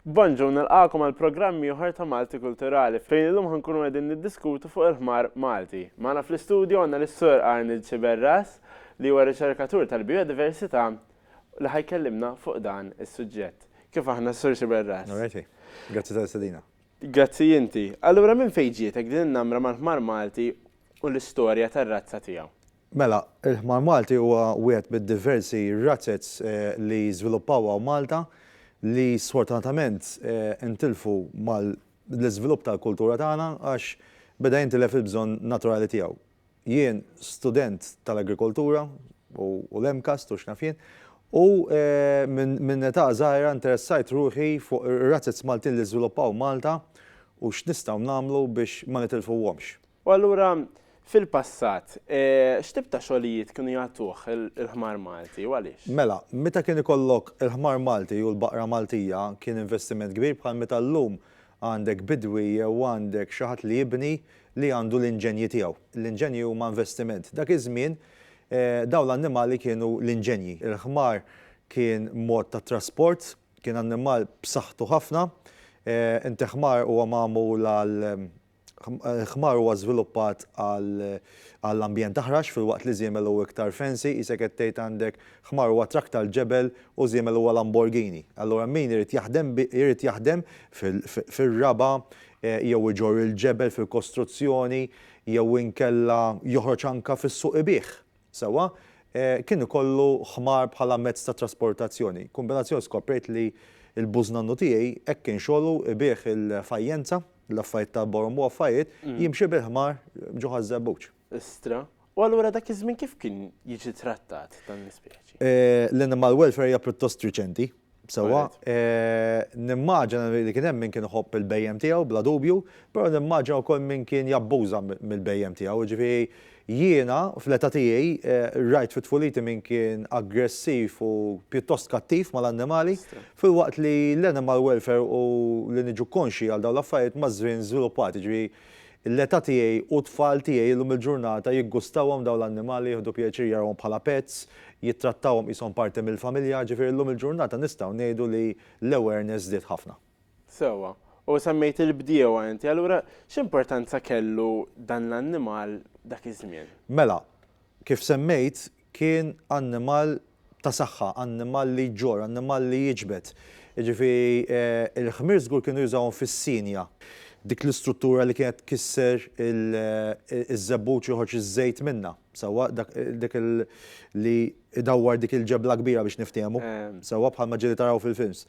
Bonjour, nilqagħkom għal programm ieħor ta' Malti Kulturali fejn illum ħa nkunu qegħdin niddiskutu fuq il-ħmar Malti. Magħna fl-istudju għandna lis-Sur Arnold Sciberras li huwa riċerkatur tal-bijodiversità li ħa jkellimna fuq dan is-suġġett. Kif aħna, Sur Sciberras? Alrighty. Grazzi tal-istedina. Grazzi inti. Allura minn fejn ġietek din in-namra mal-ħmar Malti u l-istorja tar-razza tiegħu? Mela, il-ħmar Malti huwa wieħed mid-diversi razzez li żviluppaw hawn Malta li sfortunatament intilfu mal-iżvilupp tal-kultura tagħna għax beda jintilef il-bżonn naturali tiegħu. Jien student tal-agrikoltura u l-MCAST u x'naf jien u minn età żgħira interessajt ruħi fuq ir-razzez Maltin li żviluppaw Malta u x'nistgħu nagħmlu biex ma nitilfuhomx. U allura, fil-passat, x'tip ta' xogħlijiet kienu jagħtuh il-ħmar Malti u għaliex? Mela, meta kien ikollok il-ħmar Malti u l-baqra Maltija kien investiment kbir bħal meta llum għandek bidwi jew għandek xi ħadd li jibni li għandu l-inġenji tiegħu. L-inġenji huma investiment. Dak iż-żmien dawn l-annimali kienu l-inġenji. Il-ħmar kien mod ta' trasport, kien annimal b'saħħtu ħafna. Inti ħmar huwa magħmul għal Ħmar huwa żviluppat għall-ambjent aħrax filwaqt li żiemel hu iktar fancy, qisek qed tgħid għandek ħmar huwa traktar ġebel u żiemel huwa Lamborghini. Allura min irid jaħdem irid jaħdem fir-raba' jew iġorr il-ġebel fil-kostruzzjoni jew inkella joħroġ anke fis-suq ibigħ, sewwa, kien ikollu ħmar bħala mezz ta' trasportazzjoni. Kombinazzjoni skoprejt li l-bużnannu tiegħi hekk kien xogħlu ibigħ il-fajjenza, L-affarijiet ta' Borhom u affarijiet, jimxi bil-ħmar ġo ħaż-żebbuġ. Istra. U allura dak iż-żmien kif kien jiġi trattat dan l-ispeċi? L-animal welfare hija pjuttost riċenti, sewwa. Nimmaġina li kien hemm min kien iħobb il-bhejjem tiegħu bla dubju, però nimmaġina wkoll min kien jabbuża mill-bhejjem tiegħu, jiġifieri Jiena, fl-età tiegħi, rajt fi tfuliti min kien aggressiv u pjuttost kattiv mal-annimali, filwaqt li l-animal welfare u li niġu konxji għal dawn l-affarijiet maż-żmien żviluppat, jiġifieri l-età tiegħi u t-tfal tiegħi llum il-ġurnata jiggustawhom dawn l-annimali, jieħdu pjaċir jarawhom bħala pets, jittrattawhom qishom parti mill-familja, jiġifieri llum il-ġurnata nistgħu ngħidu li l-awareness żdied ħafna. Sewwa. U semmejt il-bdiewa inti, allura x'importanza kellu dan l-annimal dak iż-żmien? Mela, kif semmejt kien annimal ta' saħħa, annimal li jġorr, annimal li jiġbed. Jiġifieri il-ħmir żgur kienu jużawhom fis-sinja. Dik l-istruttura li kienet tkisser iż-żebbuġ joħorġ iż-żejt minnha. Sewwa, dak, dik il, li idawwar dik il-ġebla kbira biex niftiehmu. Sewwa, bħalma ġieli taraw fil-films.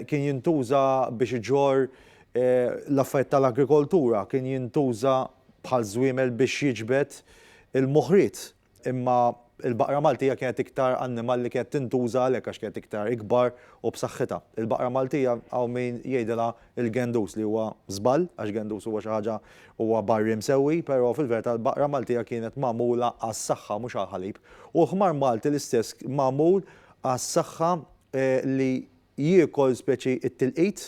Kien jintuża biex iġorr l-affarijiet tal-agrikoltura, kien jintuża bħal żwiemel biex jiġbed il-moħriet. Imma l-baqra Maltija kienet iktar annimal li kienet tintuża għalhekk għax kienet iktar ikbar u b'saħħitha. Il-baqra Maltija hawn min jgħidilha il-gendus li huwa żball għax gendus huwa xi ħaġa huwa barri msewwi però fil-verità l-baqra Maltija kienet magħmula għas-saħħa mhux għall-ħalib u l-ħmar Malti l-istess magħmul għas-saħħa li jiekol speċi t-tilqit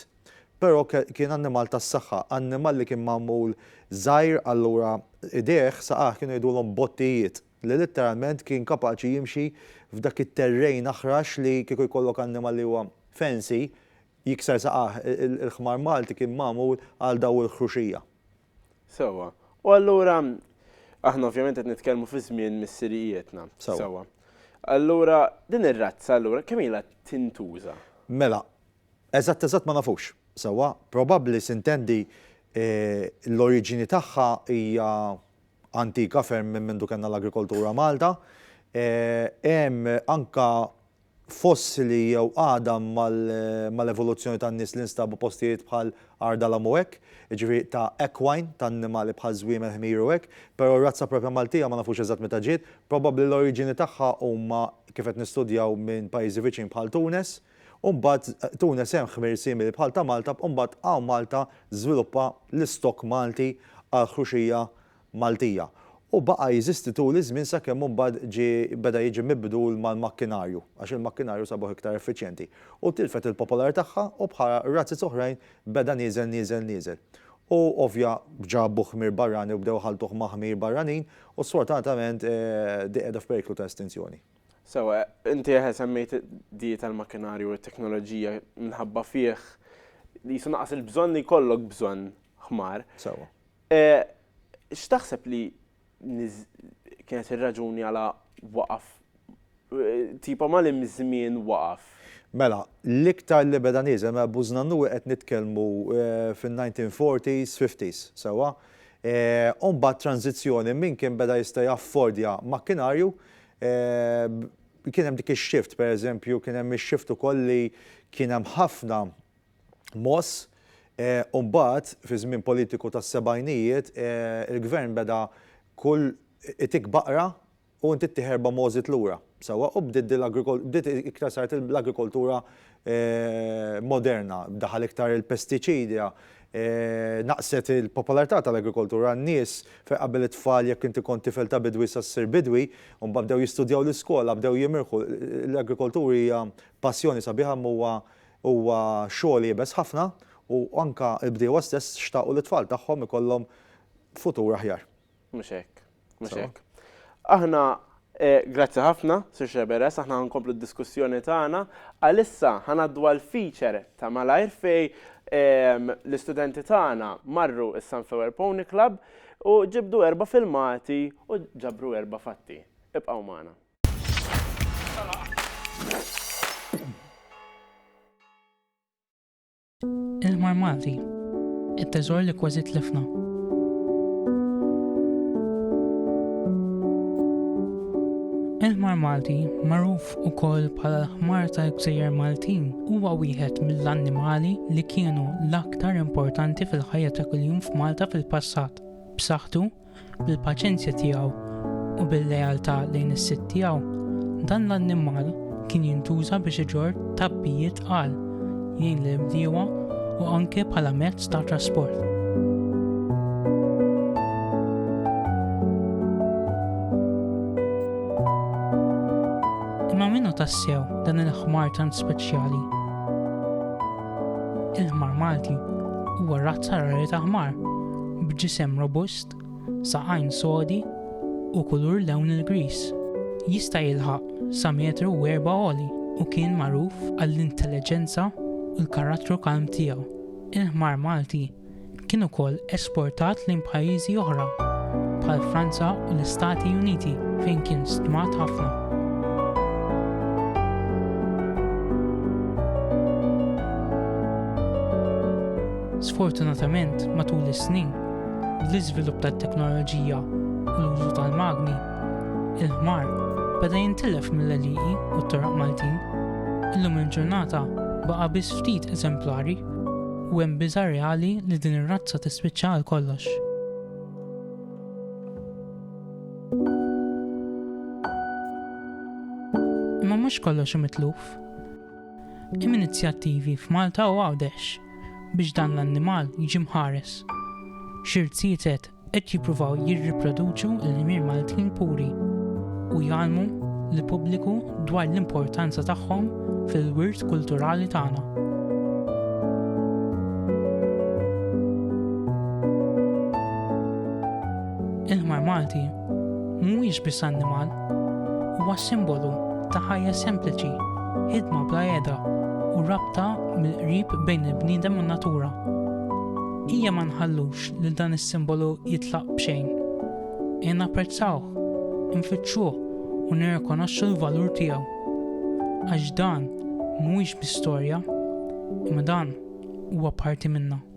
però kien annimal tas-saħħa annimal li kien magħmul żgħir allura idejh saqajh kienu jgħidulhom bottijiet li litteralment kien kapaċi jimxi f'dak it-terrejn aħrax li kieku jkollok annimal li huwa fancy Jikser saqajh, il-ħmar Malti kien magħmul għal dawl il-ħruxija. Sewwa. U allura, aħna ovvjament qed nitkellmu fi żmien missirijietna. Sewwa. Allura, din ir-razza allura kemm ilha tintuża? Mela, eżatt eżatt ma nafux. Sewwa, probabbli sintendi l-oriġini tagħha hija antika ferm minn mindu kellna l-agrikoltura Malta. Hemm anke fossili jew għadam mal-evoluzzjoni tan-nies li nstabu postijiet bħal Għar Dalam u hekk, jiġifieri ta' equine, ta' annimali bħal żwiemel, ħmir u hekk, però r-razza proprja Maltija ma nafux eżatt meta ġiet, probabbli l-oriġini tagħha huma kif qed nistudjaw minn pajjiżi viċin bħal Tunes, u mbagħad Tunes hemm ħmir simili bħal ta' Malta u mbagħad hawn Malta żviluppa l-istock Malti għall-ħruxija Maltija, u baqa' jeżisti tul iż-żmien sakemm imbagħad ġie beda jiġi mibdul mal-makkinarju, għax il-makkinarju sabuh iktar effiċjenti, u tilfet il-popolar tagħha u bħala razzez oħrajn beda nieżel nieżel nieżel. U ovvja ġabu ħmir barrani u bdew iħalltuh ma' ħmir barranin u sfortunatament di qiegħda f'periklu ta' estinzjoni. Sewwa, inti eħe semmejt di tal-makkinarju u t-teknoloġija minħabba fih qisu naqas il-bżonn li jkollok bżonn ħmar. Sewwa. E, x'taħseb li kienet ir-raġuni għala waqaf tipo mal-imżmien waqaf. Mela, l-iktar li beda nieżel, mela Buz Nannuwi qed nitkellmu eh, fin-1940s, 50s, sewwa. Eh, u mbagħad tranzizzjoni min kien beda jista' jaffordja makkinarju eh, kien hemm dik ix-shift, pereżempju, kien hemm ix-shift ukoll li kien hemm ħafna moss, u mbagħad fiż-żmien politiku tas-sebgħinijiet il-gvern beda kull itik baqra u inti ttieħ erba' mogħżiet lura, sewwa, u bdiet din bdiet iktar saret l-agrikoltura moderna, daħal iktar il-pestiċidja, naqset il-popolarità tal-agrikoltura, n-nies fejn qabel it-tfal jekk inti kont tifel ta' bidwi sa ssir bidwi, u mbagħad bdew jistudjaw l-iskola, bdew jimirħu, l-agrikoltura hija passjoni sabiħa imma huwa Huwa xogħol iebes ħafna u anke l-bdiewa stess xtaqu li t-tfal tagħhom ikollhom futur aħjar. Mhux hekk. Mhux hekk. Aħna Grazzi ħafna, Sur Sceberras, aħna ħa nkomplu d-diskussjoni tagħna. Għalissa ħa ngħaddu għall-feature ta' malajr fejn l-istudenti tagħna marru s-Sunflower Pony Club u ġibdu erba' filmati u ġabru erba' fatti. Ibqgħu magħna. Il-Mar Malti, it-teżor li kważi tlifna. Il-Mar Malti, magħruf ukoll bħala l-ħmar tal-gżejjer Maltin, huwa wieħed mill-annimali li kienu l-aktar importanti fil-ħajja ta' kuljum f'Malta fil-passat. B'saħħtu, bil-paċenzja tiegħu u bil-lealtà lejn is-sid tiegħu, dan l-annimal kien jintuża biex iġorr tgħabbijiet tqal, jgħin lill-bdiewa u anke bħala mezz ta' trasport. Imma minnu tassew dan il-ħmar tant speċjali? Il-ħmar Malti huwa razza rari ta' ħmar b'ġisem robust, saqajn sodi u kulur lewn il-griż. Jista' jilħaq sa metru u erba' għoli u kien magħruf għall-intelleġenza u l-karattru kalm tiegħu. Il-ħmar Malti kien ukoll esportat lejn pajjiżi oħra bħal Franza u l-Istati Uniti fejn kien stmat ħafna. Sfortunatament, matul is-snin, bl-iżvilupp tat-teknoloġija u l-użu tal-magni, il-ħmar beda jintilef mill-għelieqi u t-toroq Maltin. Illum il-ġurnata baqa' biss ftit eżemplari u hemm biża' reali li din ir-razza tispiċċa għal kollox. Imma mhux kollox hu mitluf. Hemm inizjattivi f'Malta u Għawdex biex dan l-annimal jiġi mħares. Xi rziezet qed jippruvaw jirriproduċu l-Himier Maltin puri u jgħallmu lill-pubbliku dwar l-importanza tagħhom fil-wirt kulturali tagħna. Il-ħmar Malti mhuwiex biss annimal, huwa simbolu ta' ħajja sempliċi, ħidma bla qiegħda u rabta mill-qrib bejn il-bniedem u n-natura. Ejja ma nħallux lil dan is-simbolu jitlaq b'xejn. Ejja napprezzawh, infittxuh u nirrikonoxxu l-valur tiegħu. Għax dan mhuwiex biss storja, imma dan huwa parti minnha.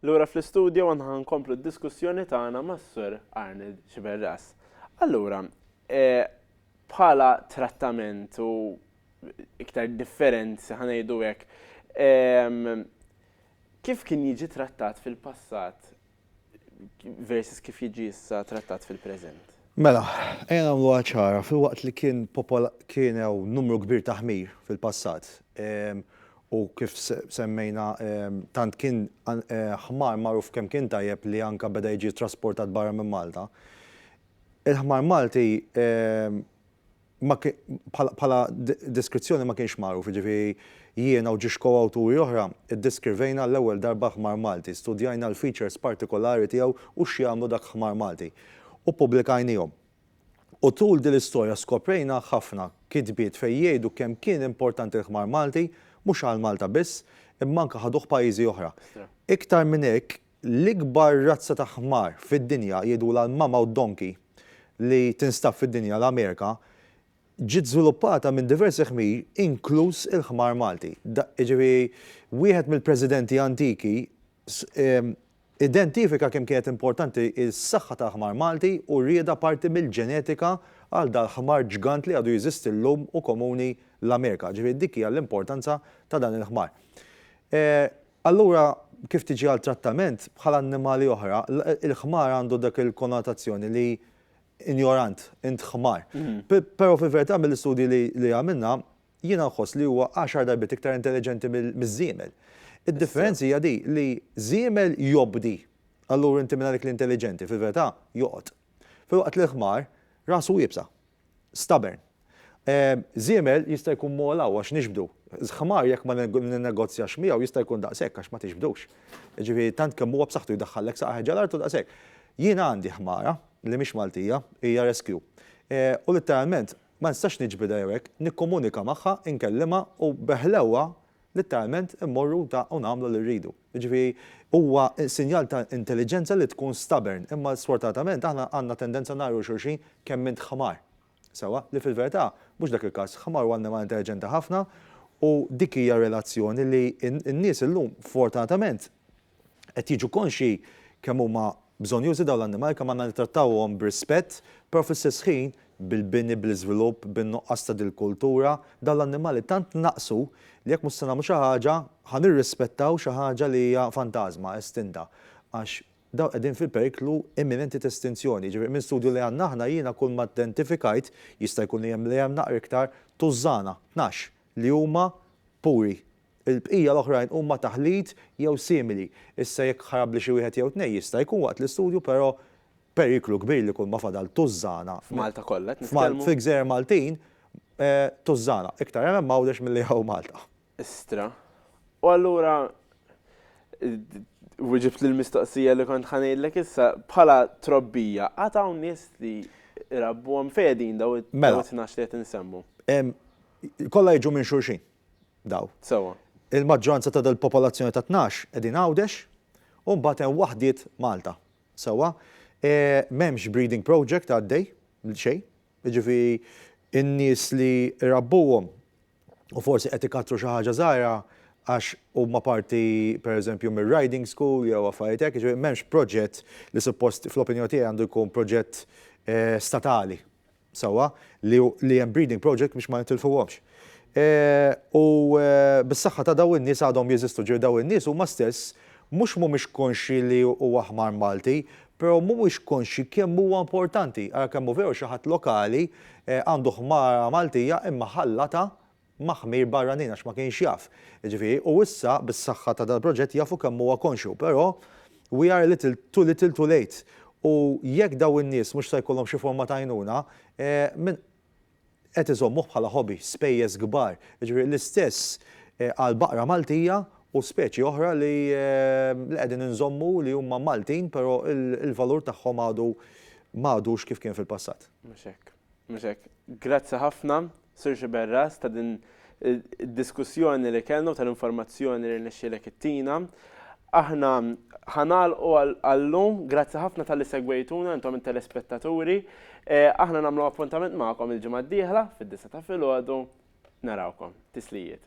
Lura fl-istudju għanna nkomplu d-diskussjoni tagħna mas-sur Arnold Xiberras. Allura, e, bħala trattament u iktar differenzi ħanejdu hekk, kif kien jiġi trattat fil-passat versus kif jiġi issa trattat fil-preżent. Mela, ejja nagħmluha ċara, filwaqt li kien popola-, kien hawn numru kbir ta' ħmir fil-passat, u kif semmejna tant kien ħmar magħruf kemm kien tajjeb li anke beda jiġi trasportat barra minn Malta, il-ħmar Malti, bħala deskrizzjoni ma kienx magħruf, jiġifieri jiena u ġiex ko-awturi oħra ddeskrivejna għall-ewwel darba ħmar Malti, studjajna l-features partikolari tiegħu u x'jagħmlu dak ħmar Malti, u ppubblikajniehom. U tul din l-istorja skoprejna ħafna kitbiet fejn jgħidu kemm kien importanti l-ħmar Malti, mhux għal Malta biss, imma anke ħaduh pajjiżi oħra. Iktar minn hekk, L-ikbar razza ta' ħmar fid-dinja, jgħidulha l-mammoth donkey, li tinstab fid-dinja, l-Amerika, ġiet żviluppata minn diversi ħmir inkluż il-ħmar Malti. Jiġifieri wieħed mill-presidenti antiki identifika kemm kienet importanti s-saħħa tal-ħmar Malti u riedha parti mill-ġenetika għal dal-ħmar ġgant li għadu jeżisti llum u komuni l-Amerika. Jiġifieri dik hija l-importanza ta' dan il-ħmar. Allura, kif tiġi għal trattament, bħal annimali oħra, il-ħmar għandu dak il-konnotazzjoni li injorant, int ħmar. Però fil-verità mill-istudji li għamilna, jiena nħoss li huwa għaxar darbiet iktar intelliġenti miż-żiemel. Id-differenzi hija di li żiemel jobdi, allura inti mingħajr dik l-intelliġenti, fil-verità, joqgħod. Filwaqt li l-ħmar, rasu iebsa. Stubborn. Żiemel jista' jkun mogħla u għax nixbdu. Ħmar jekk ma ninnegozjax miegħu jista' jkun daqs hekk għax ma tixbdux. Jiġifieri tant kemm huwa b'saħħtu jdaħħallek saqajh ġo l-art u daqs hekk. Jien għandi ħmara li mhix Maltija, hija rescue. U litteralment ma nistax niġbidha jew hekk, nikkomunika magħha, inkellimha u bi ħlewwa Litteralment immorru u ta' u nagħmlu li rridu. Jiġifieri huwa sinjal ta' intelliġenza li tkun stubborn, imma sfortunatament aħna għandna tendenza ngħajru lil xulxin kemm int ħmar. Sewwa, li fil-verità mhux dak il-każ, ħmar huwa annimal intelliġenti ħafna u dik hija relazzjoni li n-nies illum fortunatament qed jiġu konxji kemm huma bżonjużi dawn l-annimali, kemm għandna nittrattawhom b'rispett, però fl-istess ħin bil-bini, bl-iżvilupp, bin-nuqqas ta' dil-kultura, dawn l-annimali tant naqsu li jekk mhux se nagħmlu xi ħaġa ħa nirrispettaw xi ħaġa li hija fantażma, estinta. Għax dawn qegħdin fi periklu imminenti ta' estinzjoni. Jiġifieri minn studju li għandna aħna jiena kull ma identifikajt, jista' jkun li hemm li hemm naqra iktar, tużżana, tnax, li huma puri. Il-bqija l-oħrajn huma taħlit jew simili. Issa jekk ħarabli xi wieħed jew tnejn jista' jkun waqt l-istudju però periklu kbir li kulma fadal tużżana F'Malta kollha qed nitkellmu? Fil-gżejjer Maltin tużżana. Iktar hemm hemm Għawdex milli hawn Malta. Istra. U allura wiġibtli l-mistoqsija li kont ħa ngħidlek issa, bħala trobbija għad hawn nies li jrabbuhom? Fejn qegħdin dawn it-tnax li qed insemmu? Mela, Kollha jiġu minn xulxin daw. Sewwa. Il-maġġoranza ta' dal-popolazzjoni ta' tnax qegħdin Għawdex u mbagħad hemm waħdiet Malta. Sewwa? M'hemmx breeding project għaddej, xejn. Jiġifieri n-nies li rabbuhom u forsi qed ikattru xi ħaġa żgħira għax huma parti pereżempju mir-riding school jew affarijiet hekk, jiġifieri m'hemmx proġett li suppost fl-opinjoni tiegħi għandu jkun proġett statali. sewwa li hemm breeding project biex ma nitilfuhomx. U bis-saħħa ta' dawn in-nies għadhom jeżistu, ġifieri dawn in-nies huma stess mhux mhumiex konxji li huwa ħmar Malti, però mhumiex konxji kemm huwa importanti. Ara kemm hu veru xi ħadd lokali għandu ħmara Maltija imma ħallatha ma' ħmir barranin għax ma kienx jaf. Jiġifieri u issa bis-saħħa ta' dal-proġett jafu kemm huwa konxju, però we are a little too little too late. U jekk dawn in-nies mhux se jkollhom xi forma ta' għajnuna, min qed iżommuh bħala hobby, spejjeż kbar. Jiġifieri l-istess għall-baqra Maltija u speċi oħra li qegħdin inżommu li huma Maltin però l-valur tagħhom għadu m'għadux kif kien fil-passat. Mhux hekk. Mhux hekk. Grazzi ħafna, Sur Sciberras, ta' din id-diskussjoni li kellna u tal-informazzjoni li rnexxielek ittina. Aħna ħa nagħlqu għal-lum. Grazzi ħafna talli segwejtuna intom it-telespettaturi. Aħna nagħmlu appuntament magħkom il-ġimgħa d-dieħla fid-disgħa ta' filgħodu. Narawkom. Tislijiet.